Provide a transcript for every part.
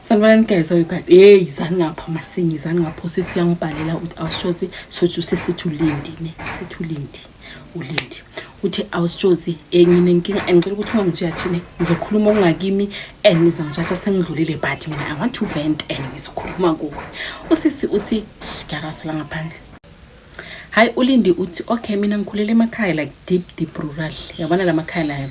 sanibonani guys oyo guys hey izani ngapha masingi izani ngapha usisi uyangibhalela ukuthi awushozi sothi usesithi ulindi ne sithi ulindi ulindi uthi awushozi ngine nkinga ngicela ukuthi ungangijaji ne ngizokhuluma okungakimi and ngizangijaja sengidlulile but mina i want to vent and ngizokhuluma kuwe usisi uthi shikarasa la ngaphandle hayi ulindi uthi okay mina ngikhulele emakhaya like deep deep rural yabona la makhaya la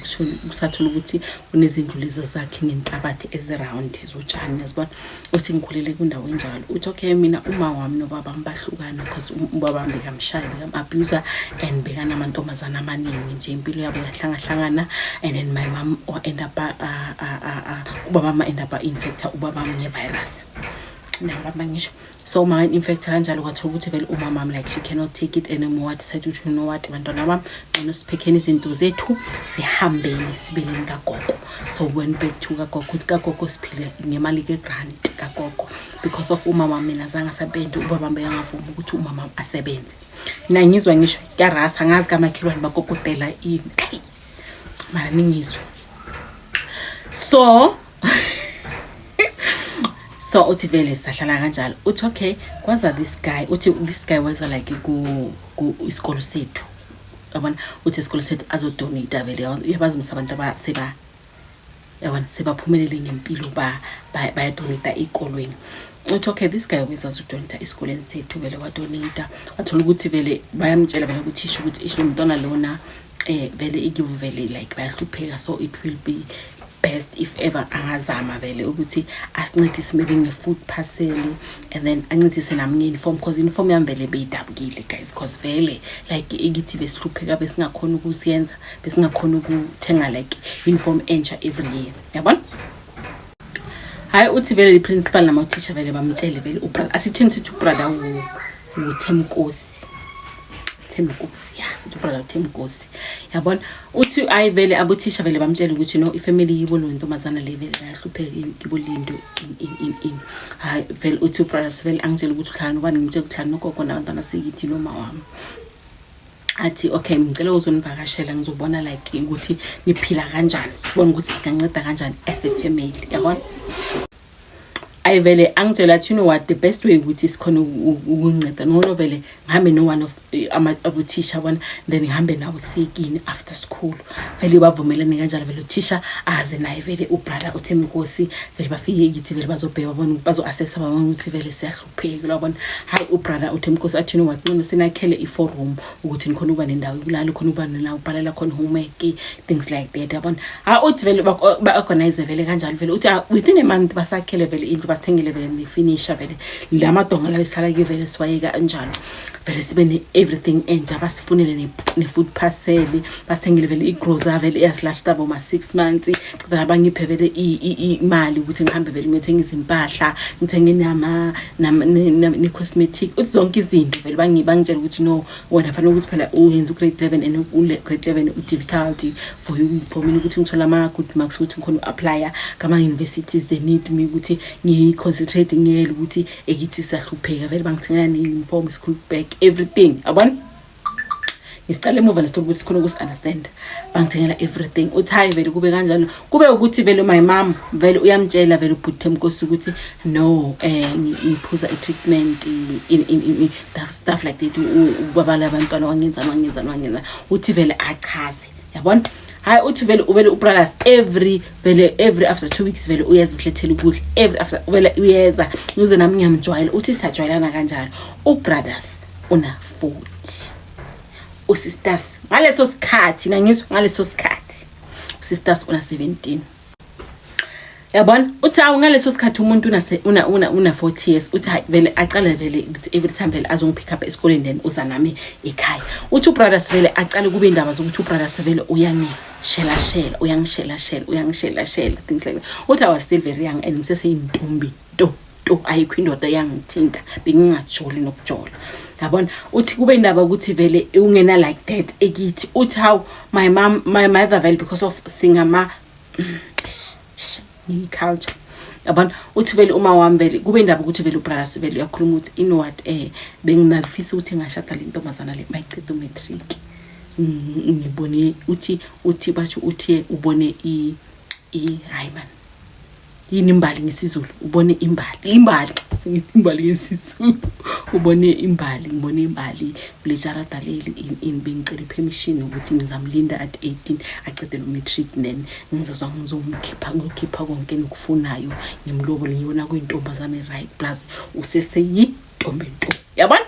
kusathula ukuthi kunezindlu lezi zakhe ngenhlabathi eziround zotshani yazibona uthi ngikhulele kwindawo enjalo uthi okay mina uma wami nobaba ngibahlukana because um, ubaba wami bekamshayi bekam-abuser and bekanamantombazana amaningi nje impilo yabo yahlangahlangana and then my mom or end up uh, uh, uh, uh, ubaba ma end up infector ubaba ngevirus nababa ngisho so uma infect kanjalo kwathiwa ukuthi vele umama wami like she cannot take it anymore I decided ukuthi you know what bantwana bami ngcono siphekheni izinto zethu sihambeni sibeleni kagogo so went back to kagogo ukuthi kagogo siphile ngemali ke-grant kagogo because of umama mina zange asebenze ubaba mbeyangavuma ukuthi umama asebenze nangizwa ngisho karasa ngazi kamakhelwane bakokotela ini mara ningizwe so so uthi vele sahlala kanjalo uthi okay kwaza this guy uthi this guy waza like ku isikolo sethu yabona uthi isikolo sethu azodonate vele uyabazi msa abantu abaseba yabona sebaphumelele ngempilo bayadonita ey'kolweni uthi okay this guy always azodonita esikoleni sethu vele wadonita wathola ukuthi vele bayamtshela vele kuthisha ukuthi isho mntwana lona um vele ikibo vele like bayahlupheka so it will be best if ever angazama vele ukuthi asincedise maybe nge-food parcel and then ancedise nami nge-uniform because uniform yami vele beyidabukile guys because vele like ikithi besihlupheka besingakhona ukusiyenza besingakhona ukuthenga like uniform entsha every year yabona hayi uthi vele liprincipal namauthisha vele bamtshele vele ubrother asithini sithi ubrother uthemkosi themkosi ya sithi ubrother uthemkosi yabona uthi ayi vele abothisha vele bamtshele ukuthi no ifamily yibo lo ntombazana le vele bayahlupheka yibo lindo hayi vele uthi ubrother vele angitshele ukuthi uhlala nobani ngimtshele ukuthi uhlala nogogo nabantwana sekithi noma wami athi okay ngicela uzonivakashela ngizobona like ukuthi niphila kanjani sibone ukuthi singanceda kanjani as a family yabona ayi vele angitshela athi you know what the best way ukuthi sikhona ukunceda ncono vele ngihambe no-one of eh, abothisha yabona then ngihambe nawo siyekini after school vele bavumelane kanjalo vele uthisha aze naye vele ubrother uthi mnkosi vele bafike kithi vele bazobheka bazo-assessa babona ukuthi vele siyahluka phekile wabona hayi ubrother uthi mkhosi athini wacincono sinakhele i-four room ukuthi nikhona ukuba nendawo yokulala khona ukuba nina ubhalela khona homework things like that yabona ha uthi vele ba-organize vele kanjalo vele uthi ah, within a month basakhele vele indlu basithengele vele nefinisha vele la madonga lawo esihlala ke vele siwayeka kanjalo vele sibe ne-everything entsha basifunele ne-food parcel basithengele vele igrosa vele eyasilashita boma-six months then abangiphe vele imali ukuthi ngihambe vele ngiyothenga izimpahla ngithenge nama ne-cosmetic uthi zonke izinto vele bangitshela ukuthi no wona fanele ukuthi phela uyenza u-grade eleven and u-grade eleven u-difficulty for you for mina ukuthi ngithole ama-good marks ukuthi ngikhona u-aplya ngama-universities they need me ukuthi ngiyi-concentrate ngiyele ukuthi ekithi sahlupheka vele bangithengela ne-uniform school bag everything yabona ngisicela emuva lesto ukuthi sikhona ukusi understand bangithengela everything uthi hayi vele kube kanjalo kube ukuthi vele my mom vele uyamtshela vele ubhuti emkosi ukuthi no eh ngiphuza i treatment in in in that stuff like that ubabala abantwana wangenza wangenza wangenza uthi vele achaze yabona hayi uthi vele uvele ubralas every vele every after two weeks vele uyeza silethela ukudla every after vele uyeza uze nami ngiyamjwayela uthi sajwayelana kanjalo ubrothers una futhi usisters ngaleso sikhathi na ngizwa ngaleso sikhathi usisters una 17 yabona uthi awu ngaleso sikhathi umuntu una una una, una 40 years uthi hayi vele aqale vele ukuthi every time vele azongipick up esikoleni then uza nami ekhaya uthi ubrothers vele aqale kube indaba zokuthi ubrothers vele uyangishela shela uyangishela shela uyangishela shela things like that uthi i was still very young and ngiseseyintombi nto to ayikho indoda eyangithinta bengingajoli nokujola yabona uthi kube indaba ukuthi vele ungena like that ekithi uthi how my mom my mother vele because of singama ni culture yabona uthi vele uma wami vele kube indaba ukuthi vele ubrother sivele uyakhuluma ukuthi in what eh bengingafisa ukuthi ngashada le ntombazana le mayichitha umatric ngibone uthi uthi basho uthi ubone i i hayi man yini imbali ngesizulu ubone imbali imbali imbali ngesizulu ubone imbali ngibone imbali kule jarada leli in bengicela ipermission ukuthi ngizamlinda at 18 acede lo matric then ngizozwa ngizomkhipha ngizokhipha konke nokufunayo ngimlobole ngibona kuyintombazane right plus useseyi ntombi nto yabona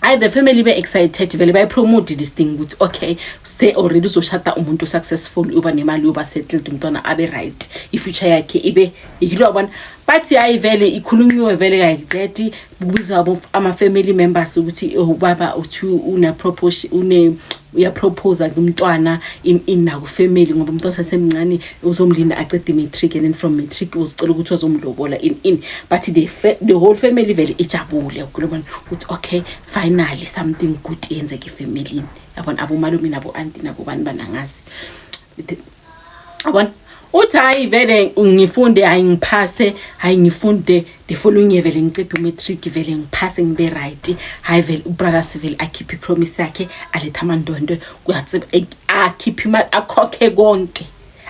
hayi the family be excited vele bayi promote this thing ukuthi okay say already uzoshada umuntu successful uba nemali uba settled umntwana abe right ifuture yakhe ibe yilo yabona bathi hayi vele ikhulunyiwe vele kayiqedi kubiza ama family members ukuthi ubaba oh, uthi une proportion une uyaprophosa kumntwana inaku family ngoba umuntu osasemncane uzomlinda acede matric and then from matric uzicela ukuthi wazomlobola in in but the, the whole family vele ijabule ukhuluma ukuthi okay finally something good yenzeke efamilini yabona abomalume nabo-anti nabo bani banangazi yabona uthi hayi vele ngifunde hayi ngiphase hayi ngifunde the following year vele ngiceda umatric vele ngiphase ngibe right hayi vele ubrother sivele akhiphe ipromise yakhe aletha amandondo kuyathi akhiphe imali akhokhe konke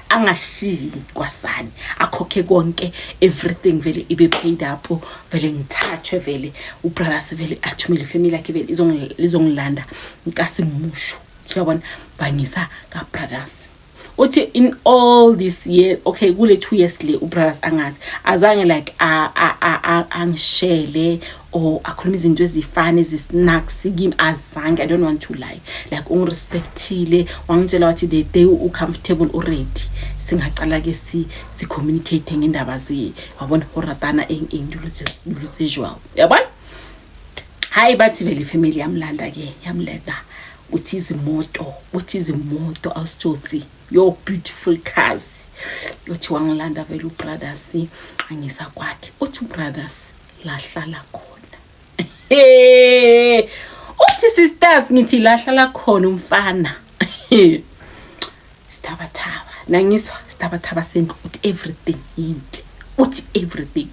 angashiyi kwasani akhokhe konke everything vele ibe paid up vele ngithathwe vele ubrother sivele athumele ifamily yakhe vele izongilanda ngikasimusho uyabona bhangisa kabrothers uthi in all this year okay kule two years le ubrothers angazi azange like angishele or akhuluma izinto ezifana ezisnacks kimi azange i don't want to lie like ungirespectile wangitshela wathi the day ucomfortable already singacala ke si si-communicate ngendaba ze wabona horatana engiluthe jwawo yabona hayi bathi vele ifamily yamlanda ke yamlanda uthi izimoto uthi izimoto awusitshosi your beautiful cars uthi wangilanda vele ubrothers angisa kwakhe uthi ubrothers lahlala khona uthi sisters ngithi lahlala khona umfana sithabathaba nangizwa sithabathaba sendlu uthi everything yinhle uthi everything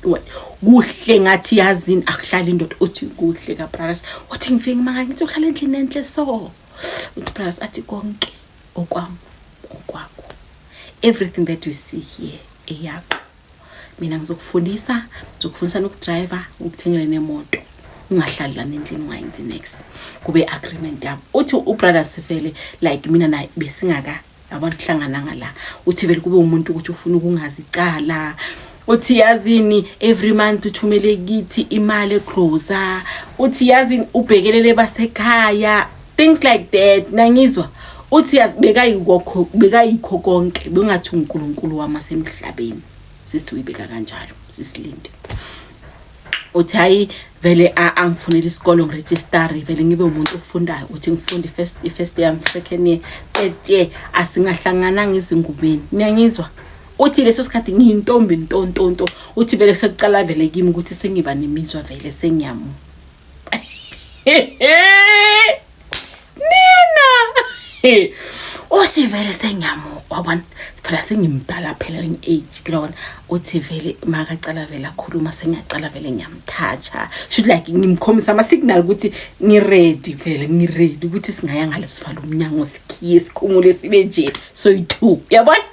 kuhle ngathi yazini akuhlali indoda uthi kuhle kabrothers uthi ngifike ngimangala ngithi uhlala endlini enhle so uthi brothers athi konke okwam okwakho everything that you see here eyakho mina ngizokufundisa ngizokufundisa nokudriva ngikuthengele nemoto ungahlali lana endlini ungayenzi nex kube agreement yabo uthi ubrother sivele like mina naye besingaka abantu hlangananga la uthi vele kube umuntu ukuthi ufuna ukungazi icala uthi yazini every month uthumele kithi imali egroza uthi yazini ubhekelele basekhaya things like that nangizwa uthi yazi bekayikho bekayikho konke bengathi uNkulunkulu wama semhlabeni sesiwibeka kanjalo sisilinde uthi hayi vele angifunele isikole ngiregistare vele ngibe umuntu ofundayo uthi ngifunde first first year second year third year asingahlangananga izingubeni niyangizwa uthi leso sikhathi ngiyintombi ntontonto uthi vele sekucala vele kimi ukuthi sengiba nemizwa vele sengiyamu nina uthi vele sengiyamuka wabona phela sengimdala phela ngi-eight kulona uthi vele makacala vele akhuluma sengiyacala vele ngiyamthatha should like ngimkhombisa ama-signal ukuthi ngiredi vele ngiredi ukuthi singaya ngale sivala umnyango sikhiye sikhumule sibe nje soyi-two uyabona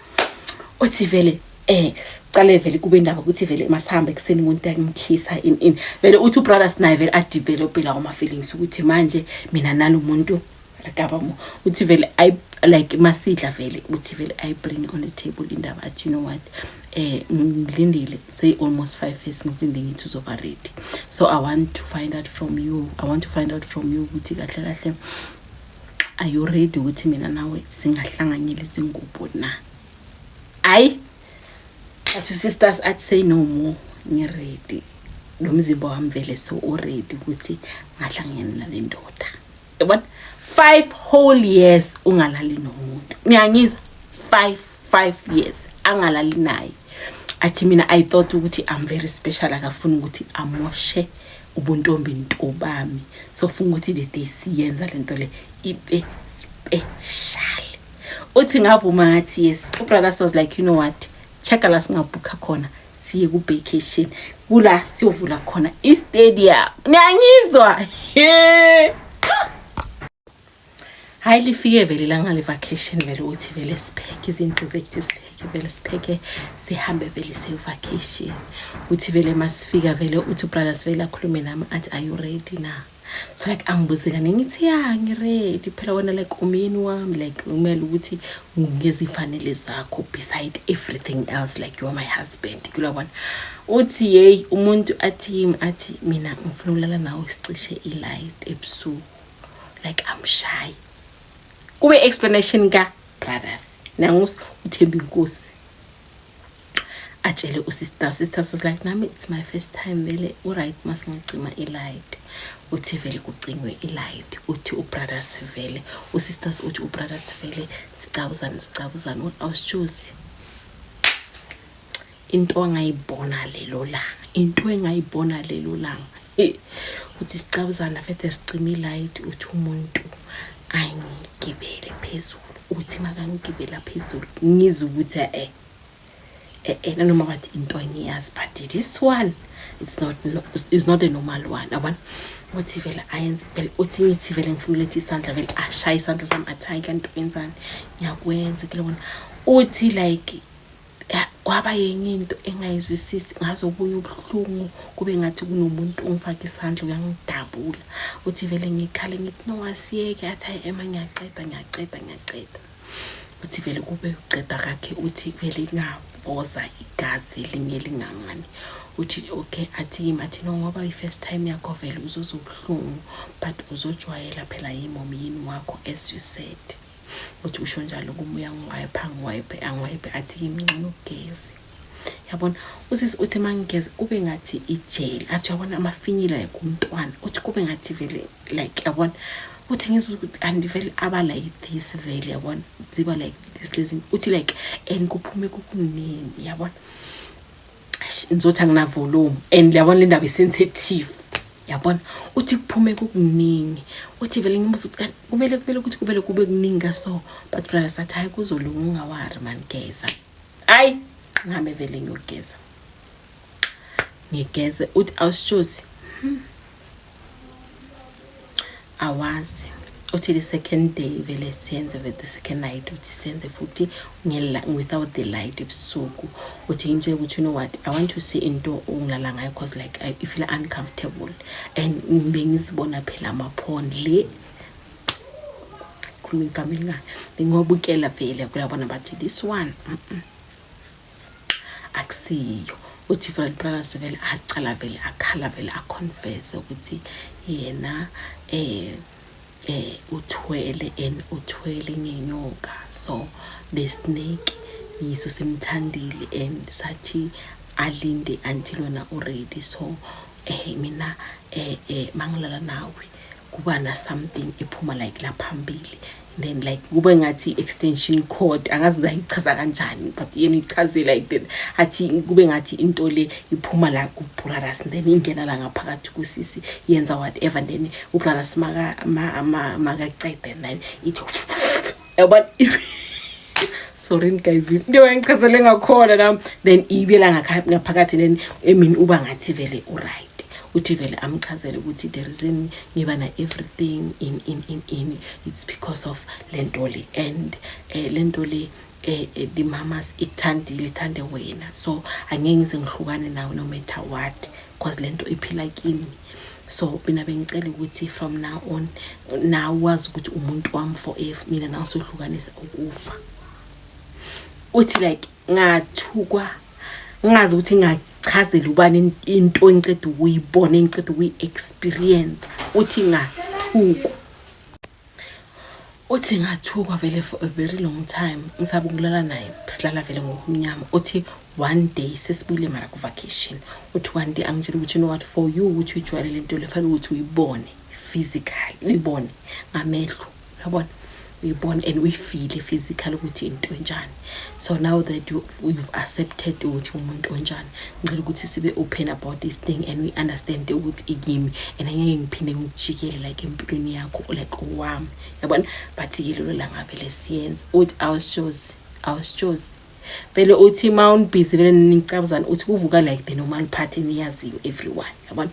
uthi vele eh cale vele kube indaba ukuthi vele masihamba ekuseni umuntu akimkhisa in in vele uthi ubrothers naye vele adevelop la oma feelings ukuthi manje mina nalo muntu rekaba mo uthi vele i like masidla vele uthi vele i bring on the table indaba athi you know what eh ngilindile say almost 5 years ngilinde ngithi uzoba ready so i want to find out from you i want to find out from you ukuthi kahle kahle are you ready ukuthi mina nawe singahlanganyela izingubo na hayi but sisters i'd say no more ngiready lo mzimba wami vele so uready ukuthi ngahlangene nale ndoda yabona five whole years ungalali nomuntu niyangizwa five five years angalali naye athi mina i thought ukuthi i'm very special akafuni ukuthi amoshe ubuntombi nto bami so funga ukuthi the day siyenza lento le ibe special uthi ngavuma ngathi yes ubrother was like you know what check la singabhukha khona siye ku-vacation kula siyovula khona istadium niyangizwa hayi lifike vele langa le-vacation vele uthi vele sipheke izinto zethu sipheke vele sipheke sihambe vele siye-vacation uthi vele masifika vele uthi ubrothers vele akhulume nami athi are you ready na so like angibuze kane ngithi ya ngiredi phela wena like umyeni wami like kumele ukuthi ngezifanele zakho beside everything else like you are my husband kulabona uthi yeyi umuntu athi yimi athi mina ngifuna ukulala nawe sicishe i-light ebusuku like amshayi kube explanation ka brothers nangus uthemba inkosi atshele usister usister was like nami it's my first time vele uright masingacima ilight uthi vele kucingwe ilight uthi ubrother sivele usisters uthi ubrother sivele sicabuzane sicabuzane what else choose into angayibona lelo langa into engayibona lelo langa uthi sicabuzana fethe sicima ilight uthi umuntu angigibele phezulu uthi makangigibela phezulu ngizwe ukuthi eh eh, eh, nanoma wathi into engiyazi but this one it's not no, it's not a normal one yabona uthi vele ayenze vele uthi ngithi vele ngifuna uletha isandla vele ashaye isandla sami athi hayi kanti wenzani ngiyakwenza ke lona uthi like kwaba yenye into engayizwisisi ngaze okunye ubuhlungu kube ngathi kunomuntu ongifaka isandla uyangidabula uthi vele ngikhale ngithi nowasiyeke athi hayi ema ngiyaceda ngiyaceda ngiyaceda uthi vele kube uceda kakhe uthi vele ingaboza igazi elinye lingangani uthi okay athi yimi athi no ngoba i-first time yakho vele uzozwa ubuhlungu but uzojwayela phela yimomi yini wakho as you said uthi usho njalo kumoya ngiwayepha ngiwayephe angiwayephe athi yimi ngcono ugeze yabona usisi uthi mangigeza kube ngathi ijele athi yabona amafinyila like umntwana uthi kube ngathi vele like yabona uthi ngizibuza ukuthi andivele aba like this vele yabona ziba like this lezi uthi like and kuphume kukuningi yabona ngizothi anginavolume and yabona le ndaba isensitive yabona uthi kuphume kukuningi uthi vele ngimuza ukuthi kumele kumele ukuthi kuvele kube kuningi kaso but brother sathi hayi kuzolunga ungawari mani geza hayi ngihambe vele ngiyogeza ngigeze uthi awushozi hmm. awazi uthi the second day vele senze with the second night uthi senze futhi without the light ebusuku uthi ngimtshele ukuthi you know what i want to see into ongilala ngayo because like i feel uncomfortable and bengizibona phela amaphond le khona igama elingani bengobukela vele kuyabona bathi this one akusiyo uthi Fred Brothers vele acala vele akhala vele aconfess ukuthi yena eh eh uthwele and uthwele ngenyoka so the snake yiso simthandile and sathi alinde until wena uready so eh mina eh eh mangilala nawe kuba na something ephuma like la phambili then like kube ngathi extension cord angazi ngayichaza kanjani but yena ichaze like that athi kube ngathi into le iphuma la ku brothers then ingena la ngaphakathi ku sisi yenza whatever then u brothers maka maka cede then ithi yabona sorry guys into engichazele ngakhona nami then ibela ngaphakathi then emini uba ngathi vele uright uthi vele amchazele ukuthi the reason ngiba na everything in in in in it's because of lento le and eh, lento le eh, eh, the mamas ikuthandile ithande wena so angeke ngize ngihlukane nawe no matter what cause lento iphila kimi so mina bengicela ukuthi from now on nawe wazi ukuthi umuntu wami for if mina nawe sohlukanisa ukufa uthi like ngathukwa ngazi ukuthi ngachazela ubani into engiceda ukuyibona engiceda ukuyi-experience uthi ngathukwa uthi ngathukwa vele for a very long time ngisaba ukulala naye silala vele ngokumnyama uthi one day sesibuyile mara ku-vacation uthi one day angitshela ukuthi you know what for you ukuthi uyijwayelele into le fanele ukuthi uyibone physical uyibone ngamehlo yabona uyibone and uyifile physical ukuthi into enjani so now that you, you've accepted ukuthi umuntu onjani ngicela ukuthi sibe open about this thing and we understand ukuthi ikimi and angeke ngiphinde ngikujikele like empilweni yakho like owami yabona but yilelo langavele siyenze uthi awushozi awushozi vele uthi ma unibhizi vele nicabuzana uthi kuvuka like the normal party niyaziyo everyone yabona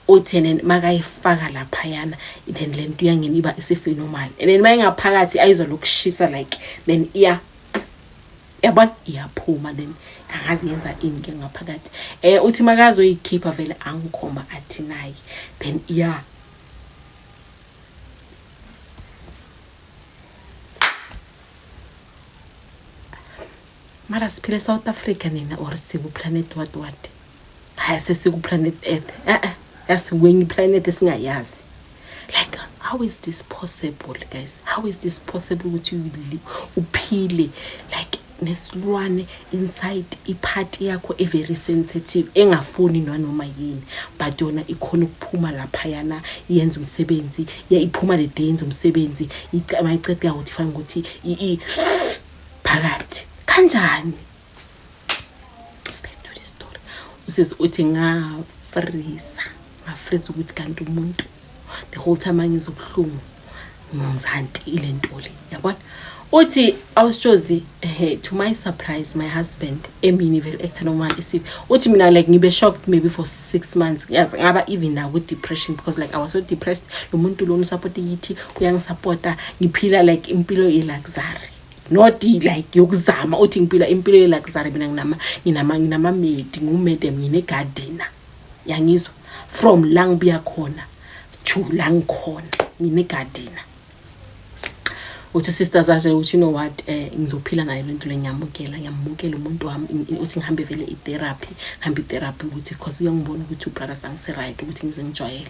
uthi and then makayifaka laphayana then le nto iyangena iba isiphenomal and then mayengaphakathi ayizwa lokushisa like then iya yabona iyaphuma then angazi yenza ini ke ngaphakathi eh uthi makazoyikhipha vele angikhomba athi naye then iya mara siphile south africa nina or sikuplanet what what hayi sesikuplanet earth e-e yasikwenye iplanet esingayazi like how is this possible guys how is this possible ukuthi uphile like nesilwane inside iphathi yakho every sensitive engafuni nanoma yini but yona ikhona ukuphuma laphayana yenza umsebenzi iphuma le day yenza umsebenzi mayiceda yakuthi fanele ukuthi phakathi kanjani usisi uthi ngafrisa ngafrisa ukuthi kanti umuntu the whole time angizobuhlungu ngizanti ile nto le yabona uthi awushozi eh, to my surprise my husband emini vele ekuthe noma isiphi uthi mina like ngibe shocked maybe for six months yazi ngaba even naku depression because like i was so depressed lo muntu lo ngisupport yithi uyangisupporta ngiphila like impilo ye luxury not like yokuzama uthi ngiphila impilo ye luxury mina nginama nginama nginama maid ngu madam ngine gardener yangizwa from la ngibuya khona to la ngikhona ngine gardener uthi sister zaje uthi you know what eh ngizophila nayo lento lenyamukela ngiyamukela umuntu wami uthi ngihambe vele itherapy hambe itherapy ukuthi because uyangibona ukuthi ubrother sangise right ukuthi ngize ngijwayele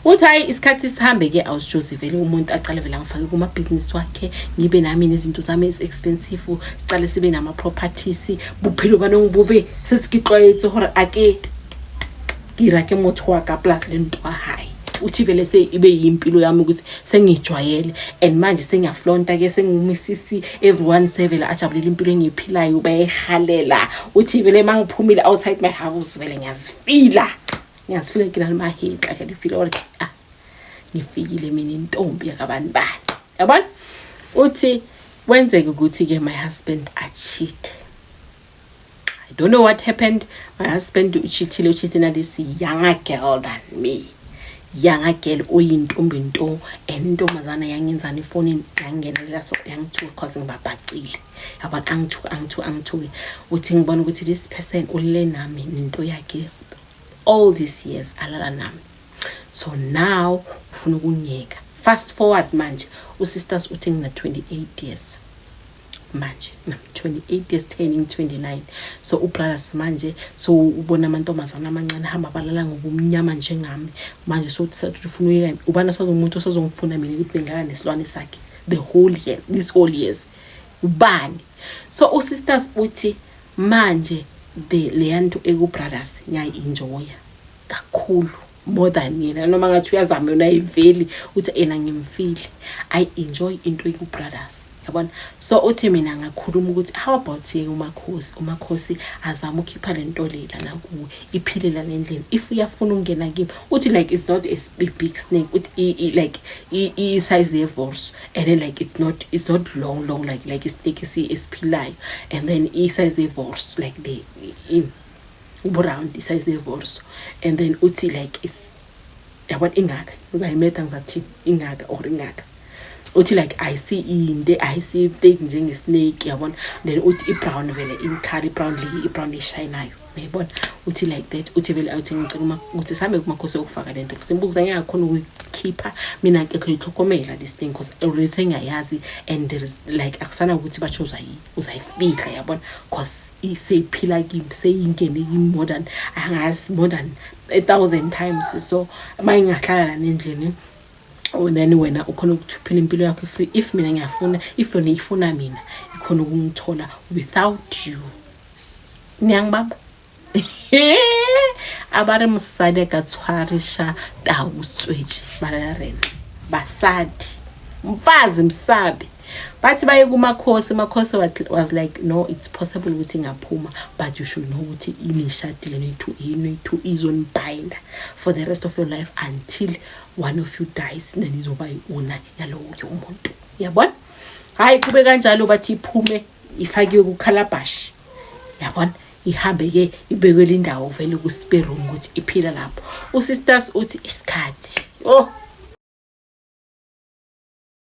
uthi hayi isikhathi sihambe ke awusijozi vele umuntu aqale vele angifake kuma business wakhe ngibe nami nezinto zami is expensive siqale sibe nama properties buphilo banongibube sesigixwayethe hore ake gira ke motho wa ka plus le ntwa hayi uthi vele se ibe yimpilo yami ukuthi sengijwayele and manje sengiyaflonta ke sengumisisi everyone sevele ajabulela impilo engiyiphilayo bayehalela uthi vele mangiphumile outside my house vele ngiyazifila ngiyazifila ngilana mahitla ke lifile or ah ngifikile mina intombi yakabani bani yabona uthi kwenzeke ukuthi ke my husband acheat I don't know what happened. My husband uchithile uchithe nalesi younger girl than me. Younger girl oyintombi nto and intombazana yangenzani efonini yangingenelela so yangithuka cause ngibabhacile. Yabona angithuka angithuka angithuke. Uthi ngibona ukuthi this person ulele nami nento yakhe all these years alala nami. So now ufuna ukungiyeka. Fast forward manje uSisters uthi ngina 28 years. manje nam 28 years turning 29 so ubrothers manje so ubona amantombazana amancane hamba balala ngobumnyama njengami manje so ufuna uyeka ubana sazomuntu osazongifuna mina ukuthi bengaka nesilwane sakhe the whole year this whole years ubani so usisters uthi manje the leyanto ekubrothers ngiyayi-enjoya kakhulu more than yena noma ngathi uyazama yona ayiveli uthi ena ngimfile i enjoy into eku brothers yabona so uthi mina ngakhuluma ukuthi how about yeke umakhosi umakhosi azama ukhipha lento lela nakuwe iphile la lendlela if uyafuna ukungena kimi uthi like it's not a big snake uthi like i size ye force and then like it's not it's not long long like like a snake esiphilayo and then i size ye force like the in uburound isayizi yevorso and then uthi like is yabona ingaka ngizayimetha ngizathi ingaka or ingaka uthi like ayisi inde ayisi thick njenge snake yabona then uthi ibrown vele imcolour ibrown le ibrown eshayinayo uyayibona uthi like that uthi vele awuthi ngicela uma ukuthi sihambe kumakhosi okufaka le nto simbuza ngeke akhona ukuyikhipha mina ke thoyitlhokomela this thing because already sengiyayazi and there is like akusana ukuthi bachoza yini uzayifihla yabona cause seyiphila kimi seyingene kimi more than angazi more than a thousand times so uma ingahlala lana endlini oh, then wena ukhona ukuthuphela impilo yakho free if mina ngiyafuna if yona ifuna mina ikhona ukungithola without you niyangibamba a ba re mosadi a ka tshwarisha tau tswetše ba lela rena basadi mfazi msabi bathi baye kumakhosi makhosi was like no it's possible ukuthi ngaphuma but you should know ukuthi inishadile noyithu inoyithu izonibhinda for the rest of your life until one of you dies then izoba i-owner yalowo yomuntu yabona hhayi kube kanjalo bathi iphume ifakiwe kukhalabhashi yabona ihambe ke ibekwele indawo vele ku-spare room ukuthi iphila lapho usisters uthi isikhathi oh